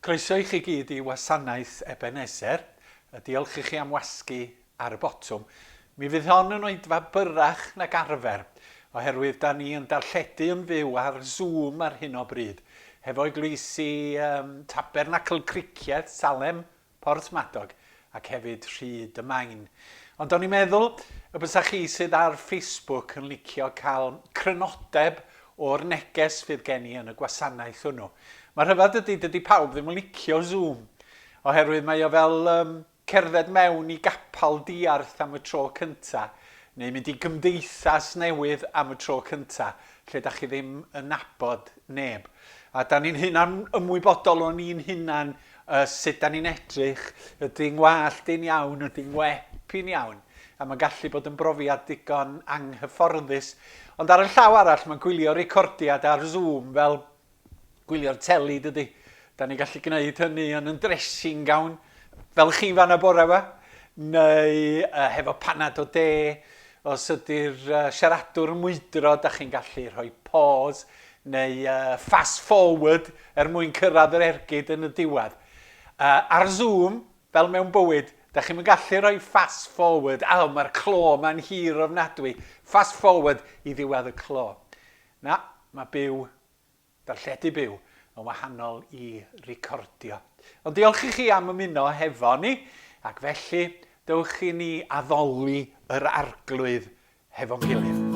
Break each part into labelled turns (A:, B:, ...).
A: Croeso i chi gyd i Wasanaeth Ebeneser, a diolch i chi am wasgu ar y botwm. Mi fydd hon yn oedfa byrrach nag arfer, oherwydd da ni yn darlledu yn fyw ar Zoom ar hyn o bryd, hefo'i glwysi ym Tabernacl Cricieth, Salem, Porthmadog ac hefyd Rhyd y Maen. Ond o'n i'n meddwl y bysa chi sydd ar Facebook yn licio cael crynodeb o'r neges fydd gen i yn y gwasanaeth hwnnw. Mae rhyfedd ydy, dydy pawb ddim yn licio Zoom, oherwydd mae o fel um, cerdded mewn i gapal diarth am y tro cynta, neu mynd i gymdeithas newydd am y tro cynta, lle da chi ddim yn nabod neb. A da ni'n hunan ymwybodol o'n ni'n hunan A sut 'da ni'n edrych? Ydy 'ngwallt i'n iawn? Ydy 'ngwep i'n iawn? A mae'n gallu bod yn brofiad digon anghyfforddus. Ond ar y llaw arall, mae gwylio recordiad ar Zoom fel gwylio'r teli, dydy? Da ni'n gallu gwneud hynny yn yn dressing gown, fel chi fan y bore yma, neu uh, hefo panad o de, os ydy'r uh, siaradwr yn mwydro, da chi'n gallu rhoi pause, neu fast forward er mwyn cyrraedd yr ergyd yn y diwedd. Ar Zoom, fel mewn bywyd, da chi'm yn gallu rhoi fast forward, aw, mae'r clo ma'n hir ofnadwy, fast forward i ddiwedd y clo. Na, mae byw, darlledu byw, yn wahanol i recordio. Ond diolch i chi am ymuno hefo ni, ac felly, dewch i ni addoli yr Arglwydd hefo'n gilydd.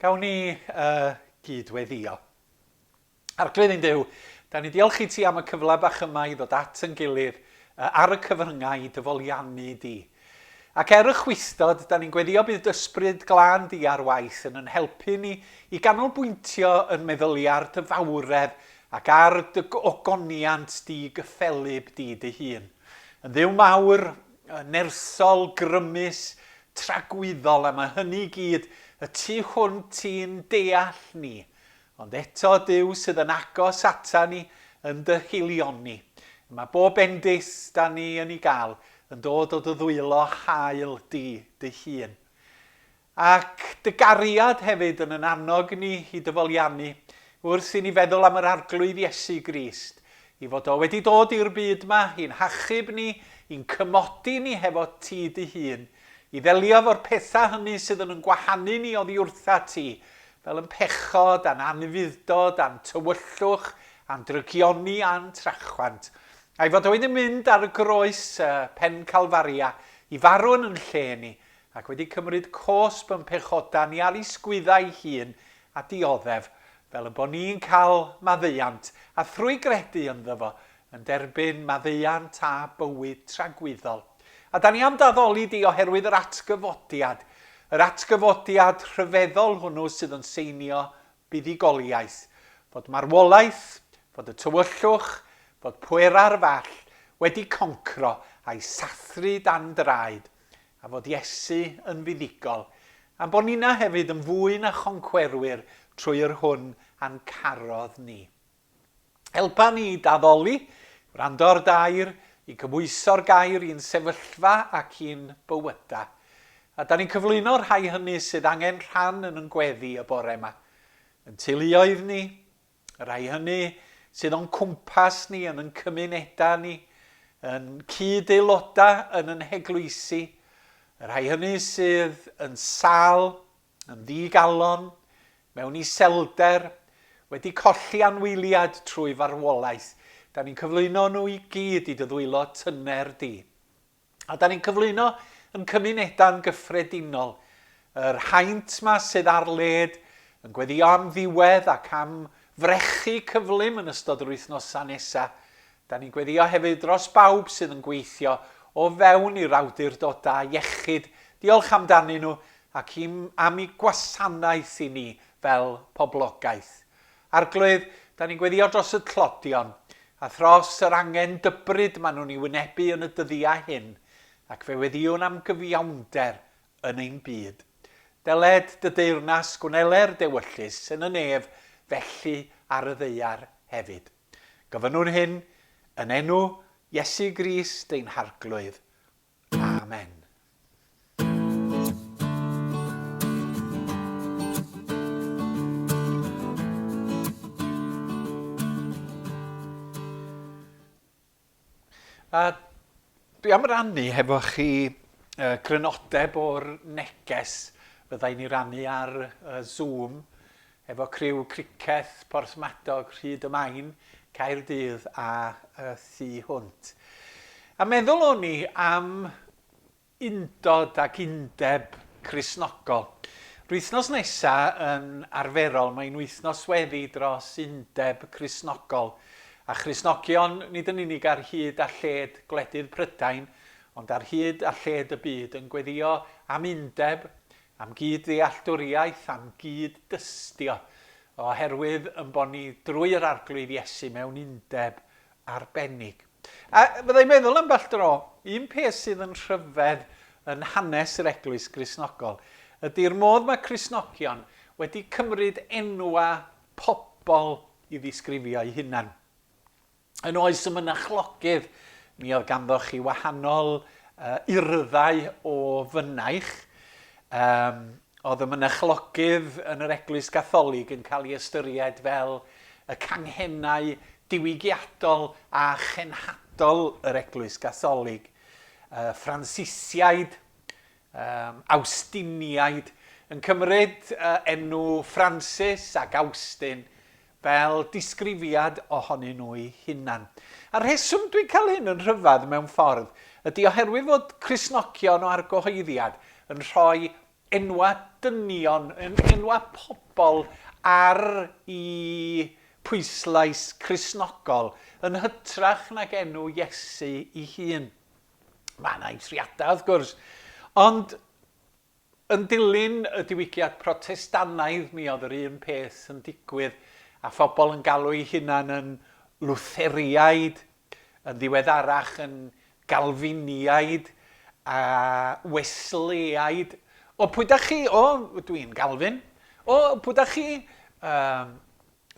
A: Gawn ni uh, gydweddio. Arglwydd ein Dyw, da ni diolch i ti am y cyfle bach yma i ddod at yn gilydd uh, ar y cyfryngau i dyfoliannu di. Ac er y chwistod, da ni'n gweddio bydd Ysbryd Glân Di ar waith yn yn helpu ni i ganolbwyntio yn meddylia ar Dy fawredd ac ar Dy ogoniant Di gyffelyb Di Dy hun. Yn Dduw mawr, nersol, grymus, tragwyddol, a mae hynny i gyd y tu hwnt i'n deall ni. Ond eto, Duw sydd yn agos ata ni yn dy haelioni. Y mae bob bendith da ni yn ei gael yn dod o dy ddwylo hael di dy hun. Ac dy gariad hefyd yn yn annog ni i dyfoliannu wrth i ni feddwl am yr Arglwydd Iesu Grist, i fod o wedi dod i'r byd ma i'n hachub ni, i'n cymodi ni hefo ti dy hun, i ddelio efo'r pethau hynny sydd yn yn gwahanu ni oddi wrtha ti, fel yn pechod, a'n anufudd-dod, a'n tywyllwch, a'n drygioni, a'n trachwant, a'i fod o wedi mynd ar y groes, y pen Calfaria, i farw yn yn lle ni, ac wedi cymryd cosb yn pechoda ni ar ei sgwyddau'i hun, a dioddef, fel y bo ni'n cael maddeuant, a thrwy gredu ynddo fo, yn derbyn maddeuant a bywyd tragwyddol. A da ni am d'addoli di oherwydd yr atgyfodiad, yr atgyfodiad rhyfeddol hwnnw sydd yn seinio buddugoliaeth, fod marwolaeth, fod y tywyllwch, fod pwerau'r fall wedi concro a'i sathru dan draed, a fod Iesu yn fuddugol, a'n bod ninna hefyd yn fwy na choncwerwyr trwy yr hwn a'n carodd ni. Helpa ni i daddoli, wrando'r dair, i gymhwyso'r gair i'n sefyllfa ac i'n bywyda. A da ni'n cyflwyno rhai hynny sydd angen rhan yn yn gweddi y bore yma. Yn teuluoedd ni, y rhai hynny sydd o'n cwmpas ni, yn yn cymunedau ni, yn cyd aelodau yn yn heglwysi, y rhai hynny sydd yn sal, yn ddi-galon, mewn iselder, wedi colli anwyliad trwy farwolaeth, da ni'n cyflwyno nhw i gyd i dy ddwylo tyner di. A da ni'n cyflwyno yn cymuneda'n gyffredinol yr haint ma sydd ar led yn gweddio am ddiwedd ac am frechu cyflym yn ystod yr wythnosau nesa. Da ni'n gweddio hefyd dros bawb sydd yn gweithio o fewn i'r awdurdodau iechyd, diolch amdanyn nhw, ac am ei gwasanaeth i ni fel poblogaeth. Arglwydd, da ni'n gweddio dros y tlodion a thros yr angen dybryd maen nhw'n ei wynebu yn y dyddiau hyn, ac fe weddiwn am gyfiawnder yn ein byd. Dyled dy deyrnas gwneler dewyllys yn y nef felly ar y ddaear hefyd. Gofynnwn hyn yn enw Iesu Grist ein Harglwydd. Amen. A dwi am rannu hefo chi uh, crynodeb o'r neges fydda i'n ei rannu ar uh, Zoom efo criw criced Porthmadog, Rhyd y Maen, Caerdydd a y thu hwnt. A meddwl o'n i am undod ac undeb Cristnogol. Rwythnos nesa yn arferol mae'n wythnos sweddi dros undeb Cristnogol a Christnogion nid yn unig ar hyd a lled gwledydd Prydain ond ar hyd a lled y byd yn gweddio am undeb am gyd-ddealltwriaeth, am gyd-dystio, oherwydd yn bod ni drwy yr Arglwydd Iesu mewn undeb arbennig. A fydda i'n meddwl ambell dro, un peth sydd yn rhyfedd yn hanes yr Eglwys Gristnogol ydy'r modd mae Cristnogion wedi cymryd enwa pobl i ddisgrifio'u hunan. Yn oes y mynachlogydd, mi oedd ganddoch chi wahanol uh, urddau o fynaich. Um, oedd y mynachlogydd yn yr Eglwys Gatholig yn cael ei ystyried fel y canghennau diwygiadol a chenhadol yr Eglwys Gatholig. Uh, Francisiaid, um, Awstiniaid, yn cymryd uh, enw Francis ac Austin fel disgrifiad ohonyn nhw'u hunan. A'r rheswm dwi'n cael hyn yn rhyfedd mewn ffordd ydy oherwydd fod Cristnogion o argyhoeddiad yn rhoi enwau dynion, enwau pobl ar i pwyslais Cristnogol yn hytrach nag enw Iesu 'i hun. Mae 'na eithriadau wrth gwrs, ond Yn dilyn y Diwygiad Protestannaidd mi oedd yr un peth yn digwydd a phobl yn galw'u hunan yn Lwtheriaid, yn ddiweddarach yn Galfiniaid a Wesleyaid. O, pwy da chi? O, dwi'n Galfin. O, pwy da chi? Yym,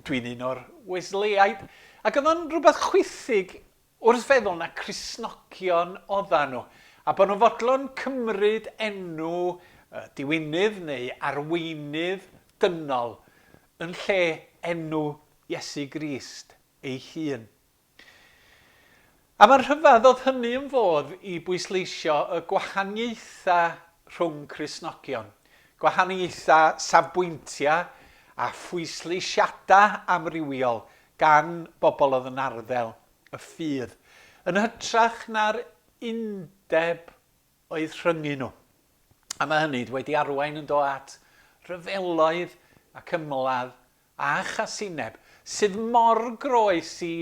A: dwi'n un o'r Wesleyaid. Ac oedd o'n rhywbeth chwithig Wrth feddwl na Christnogion oddan nhw, a bod nhw'n fodlon cymryd enw y diwinydd neu arweinydd dynol yn lle enw Iesu Grist ei hun. A mae'n rhyfedd oedd hynny yn fodd i bwysleisio y gwahaniaetha rhwng Christnogion, gwahaniaetha safbwyntia a phwysleisiada amrywiol gan bobl oedd yn arddel y ffydd, yn hytrach na'r undeb oedd rhyngyn nhw. A mae hynny wedi arwain yn do at ryfeloedd ac ymladd a chasineb, sydd mor groes i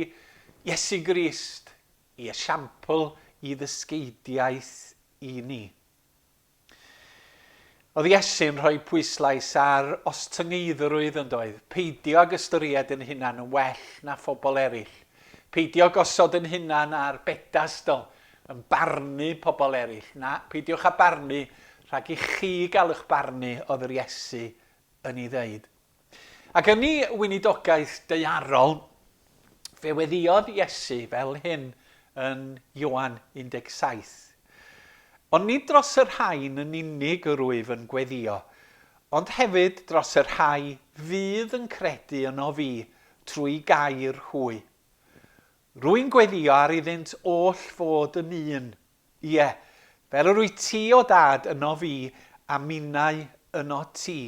A: Iesu Grist, i esiampl i ddysgeidiaeth i ni. Oedd Iesu'n rhoi pwyslais ar ostyngeiddrwydd, yn doedd? Peidio ag ystyried yn hunan yn well na phobl eraill. Peidio gosod yn hunan ar bedastl yn barnu pobl eraill. Na, peidiwch â barnu rhag i chi gael eich barnu, oedd yr Iesu yn ei ddeud. Ac yn ei weinidogaeth daearol, fe weddïodd Iesu fel hyn yn Ioan 17, Ond nid dros y rhain yn unig yr wyf yn gweddïo, ond hefyd dros y rhai fydd yn credu yno fi trwy gair hwy. Rwy'n gweddïo ar iddynt oll fod yn un, ie, fel yr wyt ti, o Dad, yno fi, a minnau yno ti.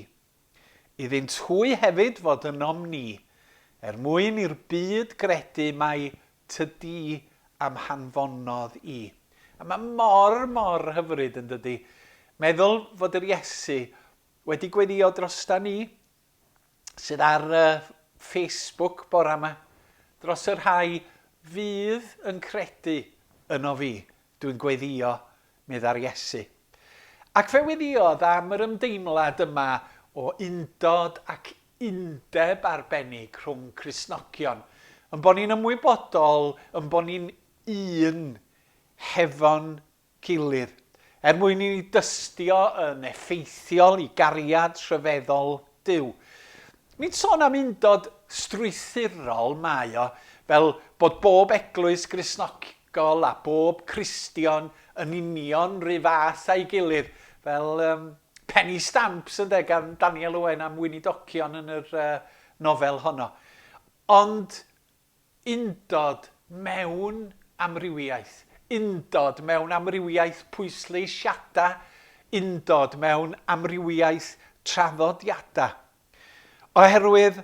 A: Iddynt hwy hefyd fod ynom ni, er mwyn i'r byd gredu mai Tydi a'm hanfonodd i. A mae mor, mor hyfryd, yn dydi? Meddwl fod yr Iesu wedi gweddïo drosta ni, sydd ar y Facebook bore yma, dros y rhai fydd yn credu yno fi, dwi'n gweddïo meddai'r Iesu. Ac fe weddïodd am yr ymdeimlad yma o undod ac undeb arbennig rhwng Cristnogion, yn bo' ni'n ymwybodol yn bo' ni'n un hefo'n gilydd, er mwyn i ni dystio yn effeithiol i gariad rhyfeddol Duw. Nid sôn am undod strwythurol mae o, fel bod bob eglwys Gristnog-. gol a bob Cristion yn union ry fath a'i gilydd, fel um, penny stamps ynde, gan Daniel Owen am weinidocion yn yr uh, nofel honno. Ond undod mewn amrywiaeth, undod mewn amrywiaeth pwysleisiadau, undod mewn amrywiaeth traddodiadau. Oherwydd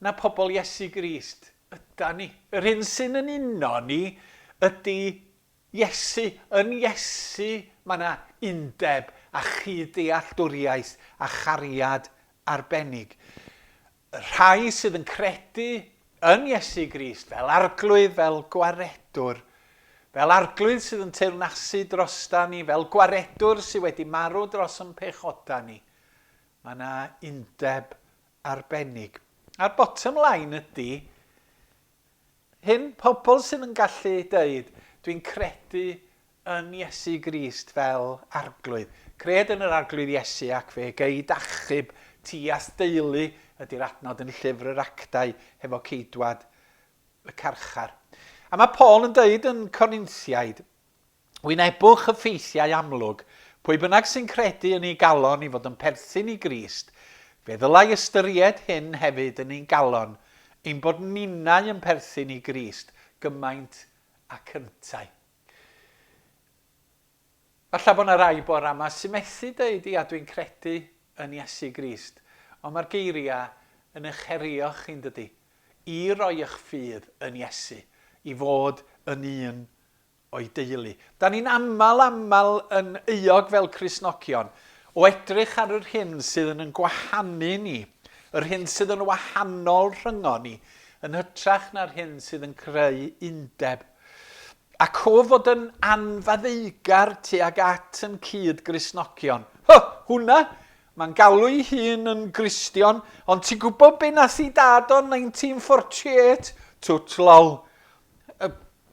A: na pobl Iesu Grist ydan ni. Yr hyn sy'n yn uno ni ydy Iesu. Yn Iesu mae yna undeb a chyd-dealltwriaeth a chariad arbennig. Y rhai sydd yn credu yn Iesu Grist fel Arglwydd, fel Gwaredwr, fel Arglwydd sydd yn teyrnasu drostan ni, fel Gwaredwr sydd wedi marw dros ein pechodau ni, mae yna undeb arbennig. A'r bottom line ydy hyn, pobl sydd yn gallu deud, dwi'n credu yn Iesu Grist fel Arglwydd. Cred yn yr Arglwydd Iesu ac fe gei d'achub ti a'th deulu ydy'r adnod yn Llyfr yr Actau hefo ceidwad y carchar. A mae Paul yn deud yn Corinthiaid, Wynebwch y ffeithiau amlwg, pwy bynnag sy'n credu yn ei galon i fod yn perthyn i Grist, fe ddylai ystyried hyn hefyd yn ein galon, ein bod ninnau yn perthyn i Grist gymaint ac yntau. Falle bod yna rai bore yma sy'n methu dweud, ia, dwi'n credu yn Iesu Grist, ond mae'r geiriau yn eich herio chi'n dydy? I roi eich ffydd yn Iesu, i fod yn un o'i deulu. Da ni'n aml aml yn euog fel Cristnogion o edrych ar yr hyn sydd yn yn gwahanu ni, yr hyn sydd yn wahanol rhyngon ni, yn hytrach na'r hyn sydd yn creu undeb. A cof fod yn anfaddeugar tuag at yn cyd Gristnogion. Ho! Hwna! Mae'n galw'i hun yn Gristion, ond ti'n gwybod be nath i dad o'n 1948? Twt lol.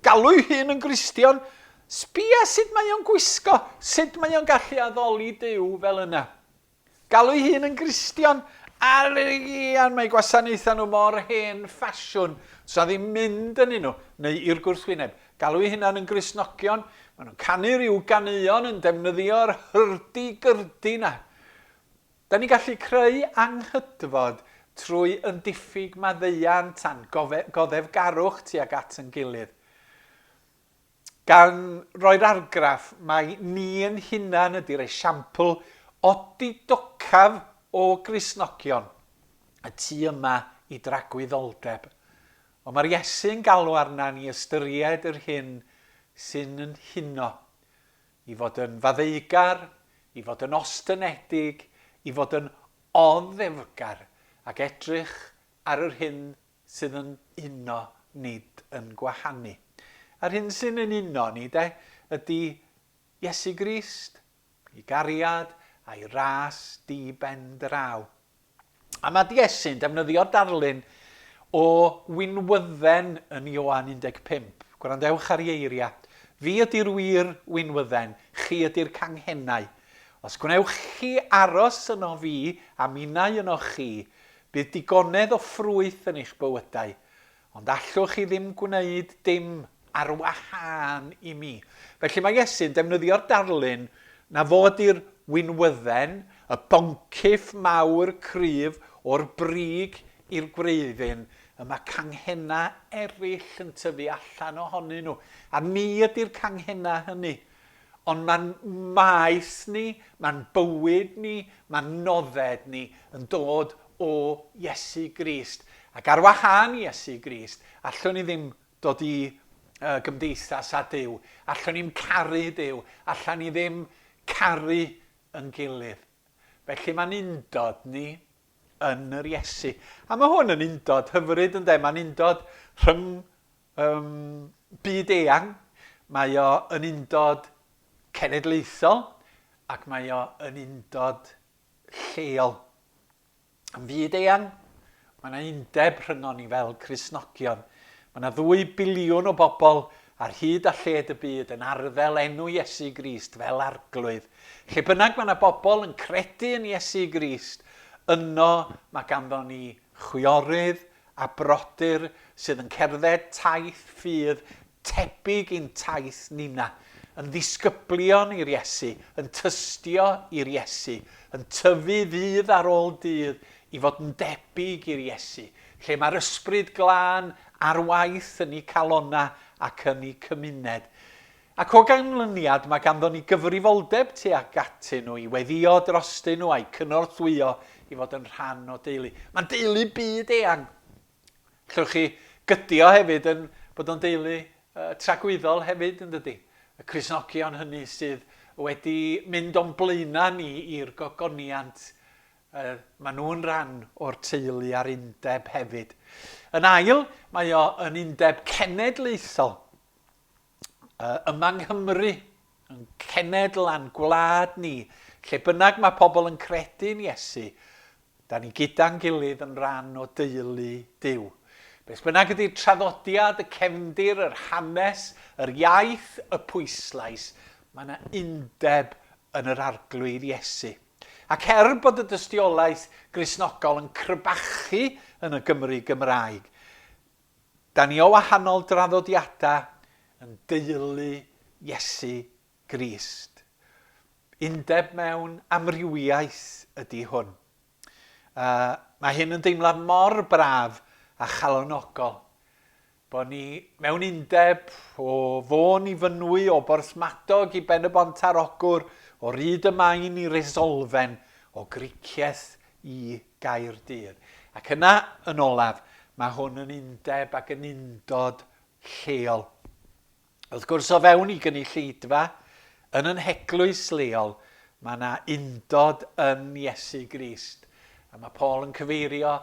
A: Galw'i hun yn Gristion, sbia sut mae o'n gwisgo, sut mae o'n gallu addoli Duw fel yna. Galw'i hun yn Gristion, ar ian mae gwasanaethau nhw mor hen ffasiwn, sa ddim mynd yn nhw, neu i'r gwrthwyneb. Galw'i hunan yn Gristnogion, maen nhw'n canu rhyw ganeuon yn defnyddio'r hyrdy-gyrdy 'na. Da ni'n gallu creu anghydfod trwy un diffyg maddeuant a'n goddefgarwch tuag at yn gilydd. Gan roi'r argraff mai ni yn hunan ydy'r esiampl odidocaf o Gristnogion y tu yma i dragwyddoldeb. Ond mae'r Iesu'n galw arna ni ystyried yr hyn sy'n yn huno. i fod yn faddeugar, i fod yn ostynedig, i fod yn oddefgar ac edrych ar yr hyn sydd yn uno nid yn gwahanu. A'r hyn sy'n yn uno ni de ydy Iesu Grist, ei gariad a'i ras di ben draw. A mae Iesu'n defnyddio darlun o winwydden yn Ioan 15. Gwrandewch ar ei eiriau. Fi ydy'r wir winwydden, chi ydy'r canghennau. Os gwnewch chi aros yno fi, a minnau yno chi, bydd digonedd o ffrwyth yn eich bywydau. Ond allwch chi ddim gwneud dim ar wahân i mi. Felly mae Iesu'n defnyddio'r darlun na fod i'r winwydden, y boncyff mawr cryf o'r brig i'r gwreiddyn, y mae canghennau eraill yn tyfu allan ohonyn nhw, a ni ydy'r canghennau hynny. Ond mae'n maes ni, mae'n bywyd ni, mae'n nodded ni yn dod o Iesu Grist. Ac ar wahân i Iesu Grist, allwn ni ddim dod i uh, gymdeithas â Duw. Allwn ni'n caru Duw. Allan ni ddim caru yn gilydd. Felly mae'n undod ni yn yr Iesu. A mae hwn yn undod hyfryd yn de. Mae'n undod rhwng Ym byd eang, mae o yn undod cenedlaethol ac mae o yn undod lleol. Ym byd eang, mae yna undeb rhyngon ni fel Cristnogion. Mae yna ddwy biliwn o bobl ar hyd a lled y byd yn arddel enw Iesu Grist fel Arglwydd. Lle bynnag mae yna bobl yn credu yn Iesu Grist, yno mae ganddo ni chwiorydd, a brodyr sydd yn cerdded taith ffydd tebyg i'n taith ninna, yn ddisgyblion i'r Iesu, yn tystio i'r Iesu, yn tyfu ddydd ar ôl dydd i fod yn debyg i'r Iesu, lle mae'r Ysbryd Glân ar waith yn eu calonnau ac yn eu cymuned. Ac o ganlyniad mae ganddo ni gyfrifoldeb tuag atyn nhw i weddïo drostyn nhw a'u cynorthwyo i fod yn rhan o deulu. Mae'n deulu byd eang. Allwch chi gydio hefyd yn bod o'n deulu tragwyddol hefyd yn dydy? Y Cristnogion hynny sydd wedi mynd o'n blaenau ni i'r gogoniant, mae nhw'n rhan o'r teulu a'r undeb hefyd. Yn ail, mae o yn undeb cenedlaethol. yma yng Nghymru, yn cenedl a'n gwlad ni, lle bynnag mae pobl yn credu yn Iesu, da ni gyda'n gilydd yn rhan o deulu Duw. Beth bynnag ydy'r traddodiad, y cefndir, yr hanes, yr iaith, y pwyslais, mae yna undeb yn yr Arglwydd Iesu. Ac er bod y dystiolaeth Gristnogol yn crebachu yn y Gymru Gymraeg, Da ni o wahanol draddodiadau yn deulu Iesu Grist. Undeb mewn amrywiaeth ydy hwn. A mae hyn yn deimlad mor braf a chalonogol, bod ni mewn undeb o Fôn i Fynwy, o Borthmadog i Ben y Bont ar Ogwr, o Ryd y Maen i Resolfen, o Gricieth i Gaerdydd. Ac yna, yn olaf, mae hwn yn undeb ac yn undod lleol. Wrth gwrs, o fewn i gynulleidfa, yn yn heglwys leol, mae yna undod yn Iesu Grist. A mae Paul yn cyfeirio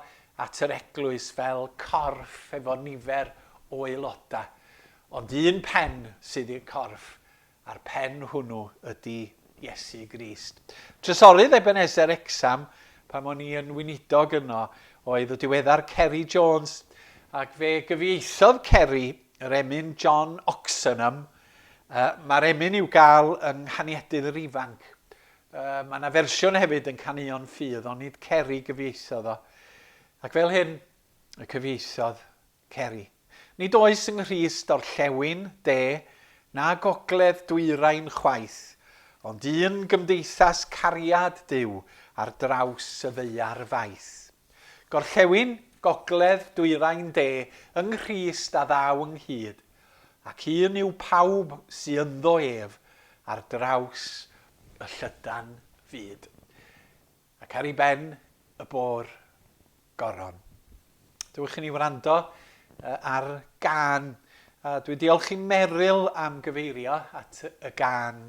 A: at yr eglwys fel corff efo nifer o aelodau. Ond un pen sydd i'r corff, a'r pen hwnnw ydy Iesu Grist. Trysorydd Ebenezer Wrecsam, pan o'n i yn weinidog yno, oedd y diweddar Ceri Jones, ac fe gyfieithodd Ceri yr emyn John Oxenham, uh, mae'r emyn i'w gael yng Nghaniadydd yr Ifanc. Uh, mae yna fersiwn hefyd yn Canuon Ffydd, ond nid Ceri gyfieithodd o. Ac fel hyn, y cyfieithodd Ceri. Nid oes yng Nghrist orllewin, de, na gogledd dwyrain chwaith, ond un gymdeithas cariad Duw ar draws y ddaear faith. Gorllewin, gogledd, dwyrain, de, yng Nghrist a ddaw ynghyd, ac un yw pawb sy ynddo ef ar draws y llydan fyd. Ac ar ei ben y bôr goron. Dewch i ni wrando ar gan. A dwi'n diolch i Meryl am gyfeirio at y gan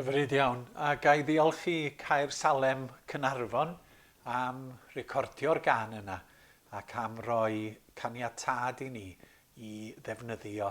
A: Hyfryd iawn, a ga i ddiolch i Caer Salem Cynarfon am recordio'r gan yna ac am roi caniatâd i ni i ddefnyddio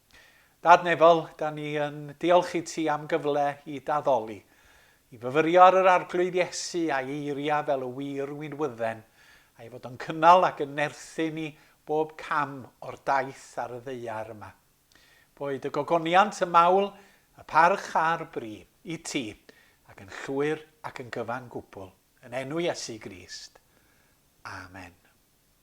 A: Dad Nefol, da ni yn diolch i ti am gyfle i d'addoli, i fyfyrio ar yr Arglwydd Iesu a'i eiriau fel y wir winwydden, a'i fod yn cynnal ac yn nerthu ni bob cam o'r daith ar y ddaear yma. Boed y gogoniant, y mawl, y parch a'r bri, i ti, ac yn llwyr ac yn gyfan gwbl, yn enw Iesu Grist. Amen.